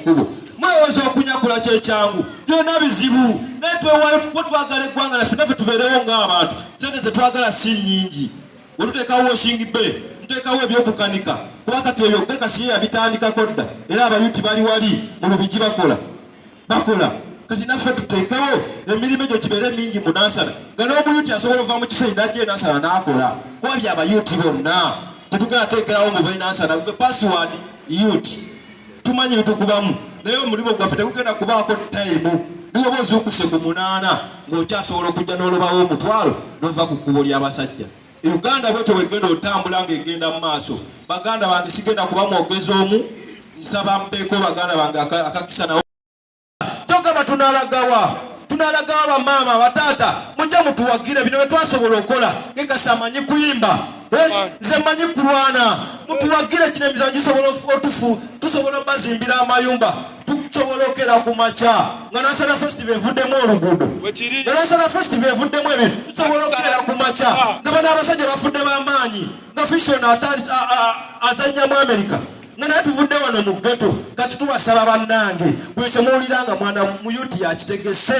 kkubo mulowooza okunyakula kyekyangu byonna bizibu naye twewaayo kuba twagala eggwanga laffe naffe tubeerewo ng'abantu sente zetwagala si nyingi wetuteekawo washing bay tuteekawo ebyokukanika kuba kati ebyo gakasiye yabitandikako dda era abayuti bali wali mu lubigi bakola bakola kati naffe tuteekewo emirimu egyo gibeere mingi mu nansana nga n'omuyuti asobola ova mu kisenyi najja enansana n'akola kuba bya bayuti bonna tetugenda teekerawo mu benansana gwe pasiwadi yuti tumanyi bitukubamu naye omulimu gwaffe tegugenda kubaako tayimu niweba ozuukuse ku munaana ng'okyasobola okujja n'olubawo omutwalo n'ova ku kkubo ly'abasajja Uganda bwetyo bwegenda otambula nga egenda mu maaso. Baganda bange sigenda kuba mwogezi omu, nsaba mpeeko baganda bange akakisa nawo. Togamba tunalagawa tunalagawa bamaama bataata mujja mutuwagire bino byetwasobola okola gekasi amanyi kuyimba eh, nze manyi kulwana mutuwagire kino emizanyo gisobola otufu tusobola bazimbira amayumba tusobokera ku makya nga nasana fest bevuddemu oluguudo nga nasana fest bevuddemu ebintu tusobola okubeera ku makya nga bano abasajja bafudde bamaanyi nga fishon azanya mu amerika nga naye tuvudde wano mu geto kati tubasaba bannange bwekyemuwulira nga mwana muyuti yakitegese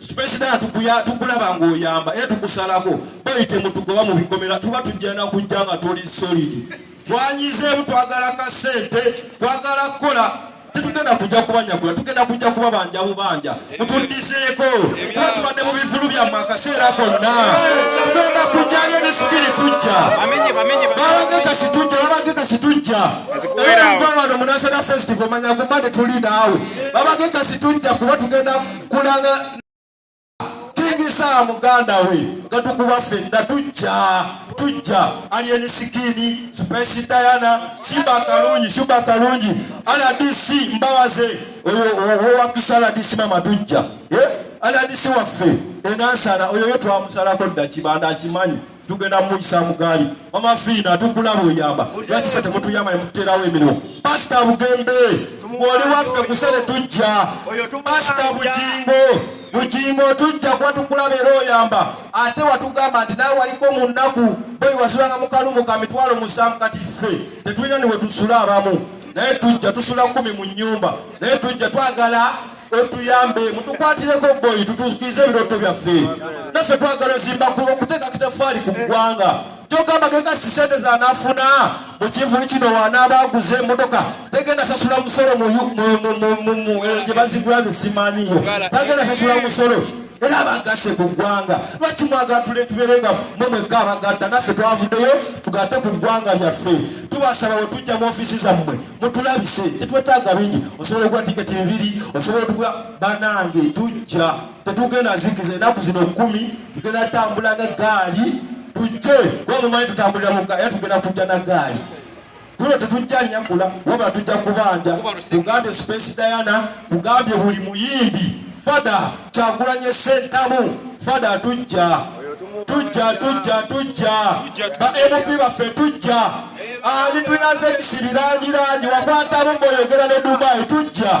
Superstar tukuya tukulaba ng'oyamba era tukusalako boyi temutugoba mu bikomera tuba tujja na kujja nga tuli solid twanyizeemu twagala ka ssente twagala kukola tetugenda kujja kubanyagula tugenda kujja kuba banja bubanja mutuddizeeko kuba tubadde mu bivulu byammwe akaseera konna tugenda kujjayo ebisikiri tujja babagekasi tujja babagekasi tujja era nva wano munasana festival manya kumba tetuli naawe babagekasi tujja kuba tugenda kulaga tujisa muganda we nga tukuba fenna tujja tujja alien sikini space diana simba kalungi shuba kalungi rdc mbabaze owakisa rdc mama tujja eh? rdc waffe enansana oyo yo twamusalako dda kibanda akimanyi tugenda muyisa mugaali mama fiina tukulaba oyamba lwaki fe temutuyamba nemututerawo emirimu pasita bugembe ngoli waffe kusere tujja pasita bujingo bujingo tujja kuba tukulaba era oyamba ate watugamba nti nawe waliko mu nnaku boyi wasulanga mukalumu ka mitwalo musanvu kati ffe tetulina niwetusula abamu naye tujja tusula kumi mu nyumba naye tujja twagala otuyambe mutukwatireko boyi tutukize ebiroto byaffe naffe twagala ozimba ku okuteeka kitafaali ku ggwanga kyogamba kekasi sente zanafuna mukivulu kino wanaaba aguze emotoka tegenda sasula musolo gye bazigula ze simanyiyo tagenda sasula musolo era abagase ku ggwanga lwaki mwagatule tubeere nga mwe mwekka abagatta naffe twavuddeyo tugate ku ggwanga lyaffe tubasaba we tujja mu ofiisi zammwe mutulabise tetwetaaga bingi osobola okuwa tiketi bibiri osobola otuga banange tujja tetugenda zikiza enaku zino kumi tugenda tambula nga gaali tujje kuba mumanyi tutambulira mukka era tugenda kujja na gaali guno tetujja nyakula wabula tujja kubanja kugambye space diana kugambye buli muyimbi fada kyakulanye sentamu fada tujja tujja tujja tujja ba mp baffe tujja ani tulinaze ekisibirangirangi wakwatamu mboyogera ne dubai tujja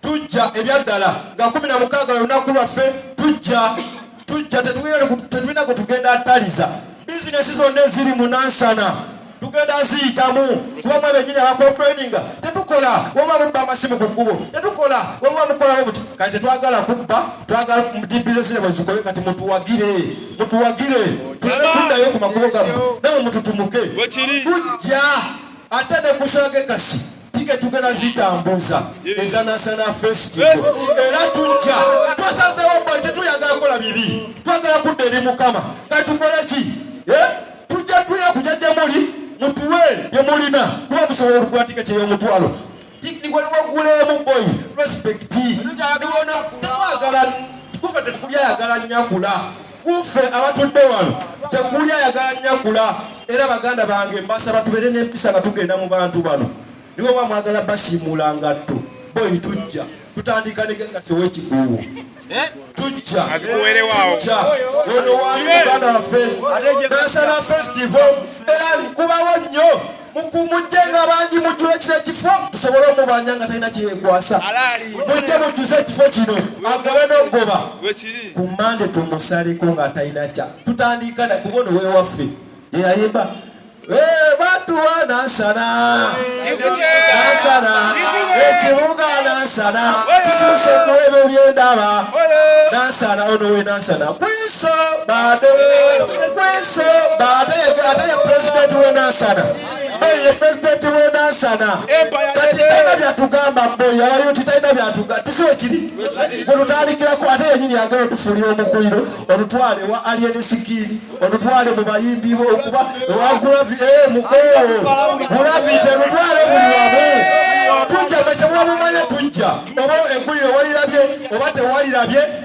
tujja ebyaddala nga kumi na mukaaga olunaku lwaffe tujja tujja tetulina gwe tugenda ataliza bizinesi zonna eziri munansana tugenda ziyitamu kuba mwe benyini abakomplaininga tetukola wama mubba amasimu ku kkubo tetukola wama mukolawo buti kati tetwagala kubba twagala mudibizesire mwezikole kati mutuwagire mutuwagire tulabe kuddayo ku makubo gamu nawe mututumuke kujja ate ne kushage kasi tike tugenda zitambuza eza national festival era tujja twasazewo bwe tetuyagala kola bibi twagala kudda eri mukama katukole ki eh? tujja tuya kuja gyemuli mutuwe byemulina kuba musobola okugula tiketi ey'omutwalo niwaliwaguleemu boy respect niwona tetwagala kufa tekubyayagala nyakula Ku ffe abatudde wano tekuli ayagala nyakula era baganda bange mbasaba tubeere n'empisa nga tugenda mu bantu bano niwe oba mwagala basiimuula ngatto boyi tujja tutandika ne gagasi ow'ekikuubo eh? tujja tujja ono waali muganda waffe nansana festival era nkubawo nnyo mukumujje nga bangi mujjula ekiro ekifo tusobole omubanja nga talina kyeyekwasa mujje mujjuze ekifo kino agobe nogoba ku mande tumusaleko nga atalina kya tutandiika na kuba ono wewaffe eyayimba eh, batuwa nasana nasana ekibuga nasana kisuseku ebyo byendaba nasana ono we nasana Kwiso bade kwiso bade ate ye pulezidenti w'e Nansana ye pulezidenti w'e Nansana kati talina byatugamba mboyi alayo nti talina byatugamba tisiwe kiri gwe tutandikirako ate yenyini yagala otufuulira omukuliro olutwale wa alien sikiiri olutwale mu bayimbi okuba ewa gulavi e eh, mukoo gulavi terutwale buli wamu tujja mwe kyemuba mumanye tujja oba eggulire walirabye oba tewalirabye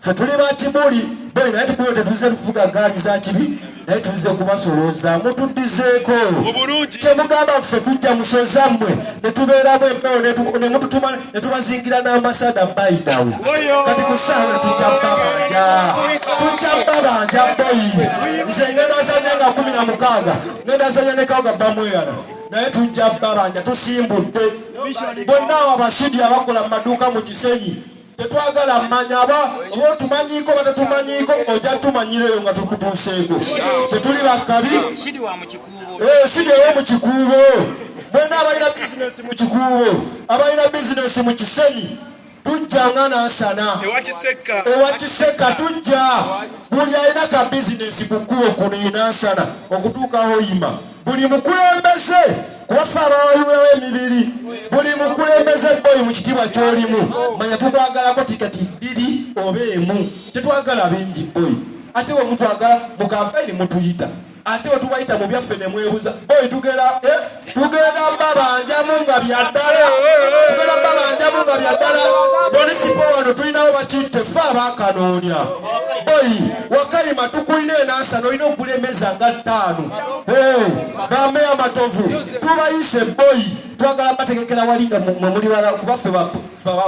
fe tuli bakimuli bwe naye tukuwe tetuze kuvuga gaali za kibi naye tuze kubasolooza mutuddizeeko kyemugamba ffe tujja musoza mmwe netubeeramu empewo nemututuma netubazingira n'ambasada mbayidawe kati musaana tujja babanja tujja babanja boyi nze ngenda zanya nga kumi na mukaaga ngenda zanya nekaoga bamweyana naye tujja babanja tusimbudde bonna abo abasidi abakola mu maduuka mu kisenyi tetwagala mmanya aba oba otumanyiiko oba tetumanyiiko ojja tumanyira eyo nga tukutuuseeko tetuli bakabi eh, sidi eyo mu kikuubo mwena abalina bizinesi mu kikuubo abalina bizinesi mu kisenyi tujja nga nansana ewa kiseka tujja buli alina ka bizinesi ku kkubo kuno enansana okutuukaho yima buli mukulembeze kuba ffe abawayulawo emibiri buli mukulembeze boyi mu kitiibwa kyolimu manya tukwagalako tiketi bbiri oba emu tetwagala bingi boyi ate wemutwagala mu kampeni mutuyita ate wetubayita mu byaffe nemwebuza boyi tugera eh? tugenda babanjamu nga byaddala tugenda babanjamu nga byaddala munisipo wano tulinawo bakitte fe abakanoonya boyi wakayima tukulina enansa nolina okulemeza nga ttaano bameya matovu tubayise boyi twagala bategekera wali nga mwemuli bala kuba ffe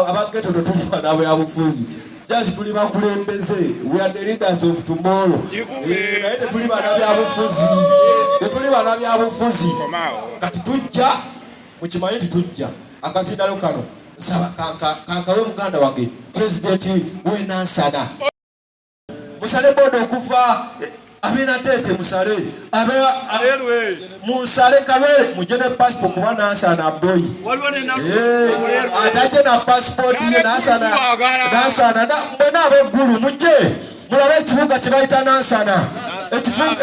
abageto tetulima nabyabufuzi jasi tuli bakulembeze we are the leaders of tomorrow eh, naye tetuli bana byabufuzi tetuli bana byabufuzi kati tujja mukimanye nti tujja akasindalo kano nsaba kankawe muganda wange pulezidenti wenansana musale boda okuva eh, abinatete musale munsale kabe muje ne passport kuba nansana boy eh, ataje na passport ye nansana nansana mwena abeggulu muje mulabe ekibuga kyebayita nansana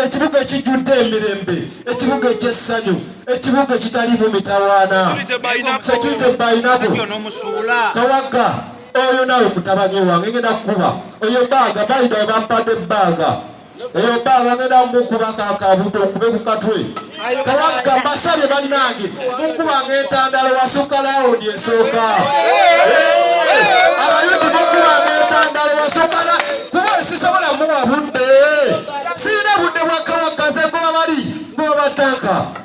ekibuga ekijjudde emirembe ekibuga ekyessanyu ekibuga ekitaliimu mitawaana security bayinako kawagga oyo nawe mutabani wange ngenda kukuba oyo baaga bayida webampadde baaga eyo baaga ngenda mukuba kakabuto okube ku katwe kawagga mbasabye bannange mukubanga entandalo wasukka lawundi esooka abayuti mukubanga entandalo wasukka kuba sisobola muwa budde sirina budde bwakawagga ze ngoba bali ngoba batanka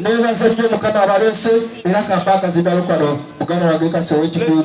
nebaza nnyo mukama abalese era kampaaka zidalo kano muganda wange kasi owekikuumu